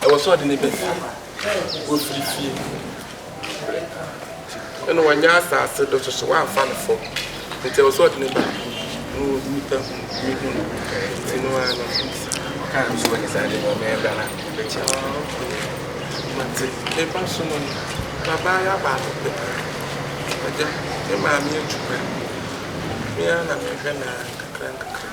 Ɛwɔ sɛ ɔde no ba fie. Wafiri fie na wanya asase do soso, wamfa no fam. Nti ɛwɔ sɛ ɔde no ba na nnipa hu ne hu no. Nti no ara no nsa. Ɔkaa no so wɔ ne saa de ma ɔmɛn bra na bɛkyɛ no. Mate, meba so no no, babaa yɛ abaako pɛ. Agya, me maame atu kwan. Me ara na mehwɛ no ara nkakra nkakra.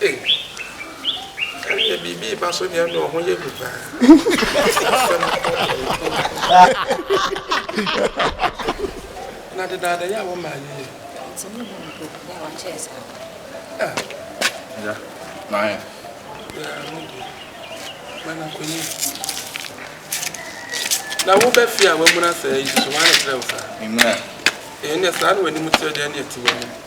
Ei ɛneɛ biribi reba so deɛ no ɔho yɛ gu paa na dedaada yɛ a wɔma ayeyɛ nti mo hu mpo na wakyɛɛ saa ya maayɛ ya mo deɛ mana kɔyi na wobɛ fie a wamuna sɛ yi so wane kyerɛ wo saa ɛneɛ saa na w'anim teɛ deɛ ne ɛte w'anim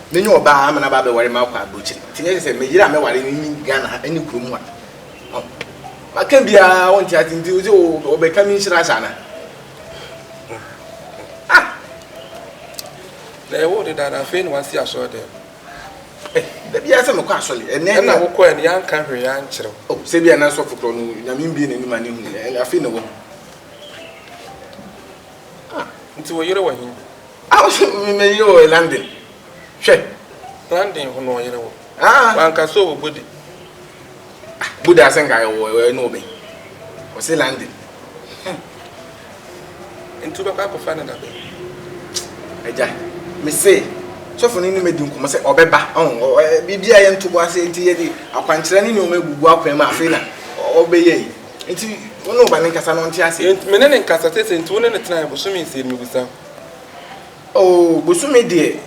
Menye ɔbaa a ama no aba abɛware makɔ abrokyir, ntsi nnyɛ sɛ me yer a mɛware no nnyi Ghana ha ne kurow mu a makã biara a ɔnntse adze ntsi edze wɔbɛkã me nhyira ase ana? Ah! Na yɛwoo no daa na afei na wɔasi asɔrdan mu. Eh, da biara sɛ mekɔ asɔr, ɛnɛ nye. Nna wokɔe no yɛannkã hwee yɛannkyerɛ wo. Oh, sɛ bi a na sɔfo korɔ no Nyame mbue n'enyi ma no hu, afei na oehu. Ah, nti wo yere wɔ he? Ah, ɔse me me yere wɔ London. Hwɛ. London ho na ɔyere wɔ. Ah. Wanka so wɔ Bode. Ah, Bode ase nka wɔ wɔ ne wɔ bɛn. Ɔse London. Hmm. Nti wobɛkɔ akɔfa ne da bɛn? Agya, me se sɔfo no ne medi nkɔmmɔ sɛ ɔbɛba. Ɔho, biribi a yɛnto bo ase nti yɛde akwankyerɛ ne nneɛma agugu akwan mu afei na ɔbɛyɛ yi. Nti wo ne wo ba no nkasa na ɔnte aseɛ. Enti me ne no nkasa sese nti wo ne no tenaeɛ bosome nsia ni mebisa wo. Oh bosome deɛ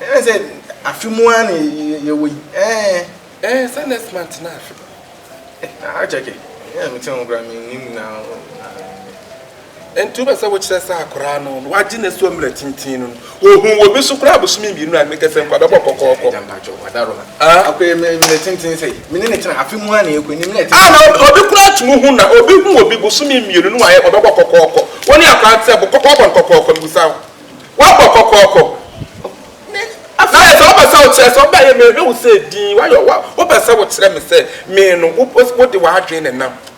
ɛne sɛ afe mu ara na yɛwɔ yi ɛɛn. Ɛɛn sɛ next month na afe. Eh na akyɛke ɛyɛ a mete ho koraa mennim na. Nti wopɛ sɛ wokyerɛ sɛ akoraa no no wagye ne so mmerɛ tenten no no wɔhuu wɔ bi so koraa bosome mmienu a mekɛ sɛ nkoa bɛbɔ kɔkɔɔkɔ. Agya mpakyɛw wada roma akoraa mu mmerɛ tenten sɛi me ne no tena afe mu a na yɛkɔ anim na ɛte saa. Ah na obi koraa tumi hu na obi hu wɔ bi bosome mmienu no wayɛ ɔbɛbɔ kɔkɔɔkɔ wo ne akoraa no te sɛ bo kɔkɔɔkɔ no kɔkɔɔkɔ mebisa wo wabɔ kɔkɔɔkɔ ne na ayɛ sɛ wopɛ sɛ wokyerɛ sɛ ɔbɛ yɛ mehwɛ wo sɛ din wayɛ wopɛ sɛ wokyerɛ me sɛ me no wode w'adwene nenam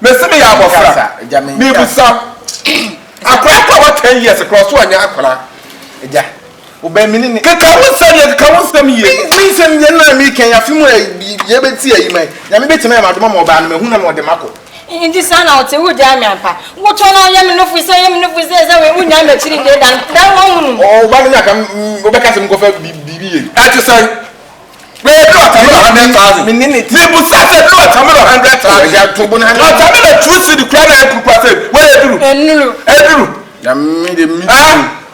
Mese meyɛ abɔfra mebusa akwadaa mpo a wa ten years koraa ɔso ɔnyɛ akwadaa. Agya wobɛn me ne ne. Keka wo nsɛm yie keka wo nsɛm yie. Me nsɛm yie na mi kɛn afi mu yɛ bɛ ti ayi mɛ nyame bɛ tumi ayɛ ma adoma ma ɔbaa no mɛ hu na ma ɔde ma kɔ. Nti saa na ɔte wo gyaa me ampa wo tɔ na yɛ me nofo sɛ yɛ me nofo sɛ sɛ wei wo nyaa me akyiri deɛ dan dan wɔn hunu. Ɔba no nyɛ aka wobɛka sɛ menkɔfa biribi yɛ. Ɛte sɛn. Bɛyɛ bere watermelon hundred thousand. Mibusa sɛ bere watermelon hundred thousand. Watermelon two cedi kura na yɛ kurukura sɛ wɔyɛ aduru. Ɛnuru. Ɛduru. Nyame de mi tu.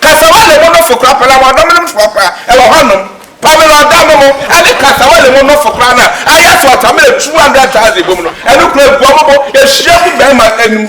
Kasawa lemo nofo kura pɛlɛ wɔn adomenom foɔ kura ɛwɔ hɔ nom. Pamelon da nom ɛne kasawa lemo nofo kura na ayɛ sɛ watermelon two hundred thousand bom no ɛno kura gu ɔmo bo ehyia gu bɛɛma anim.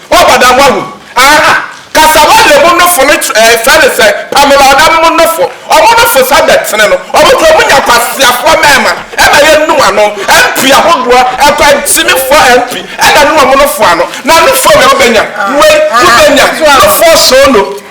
Woaba da ho ahu? Aah! Kasawa lemu nofo no kyerɛ ɛɛ frɛ no sɛ Pamela ɔdanom nofo. Ɔmo nofo sa da tene no. Ɔmo kura ɔmo nya kwaseafoɔ mɛɛma ɛma yɛ nu ano. MP ahodoɔ, ɛkwankyinifoɔ MP ɛna nu ɔmo nofo ano. Na nofo wei wobɛnya, wei wobɛnya, nofoɔ soo no.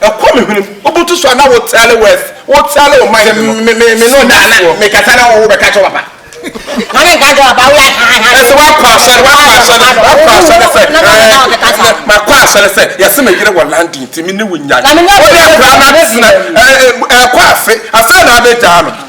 Ɛkɔ me hwenem, wobutu so a na wo tɛle wo ɛs, wo tɛle wo mind no. Sɛ me me no da na me kasa na wo bɛka kyɛ papa. Na me nka kyɛ papa wo yɛ ha ha. Ɛsɛ wakɔ asɛre, wakɔ asɛre, wakɔ asɛre sɛ ɛɛ ma kɔ asɛre sɛ yɛsɛ me yere wɔ London ti me ne wo nya. Wo yɛ kura na tena ɛɛ ɛɛ kɔ afe asɛre na abɛgyaa no.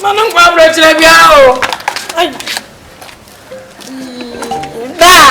Mma no nkɔ aberɛkyerɛ biara o. Daa.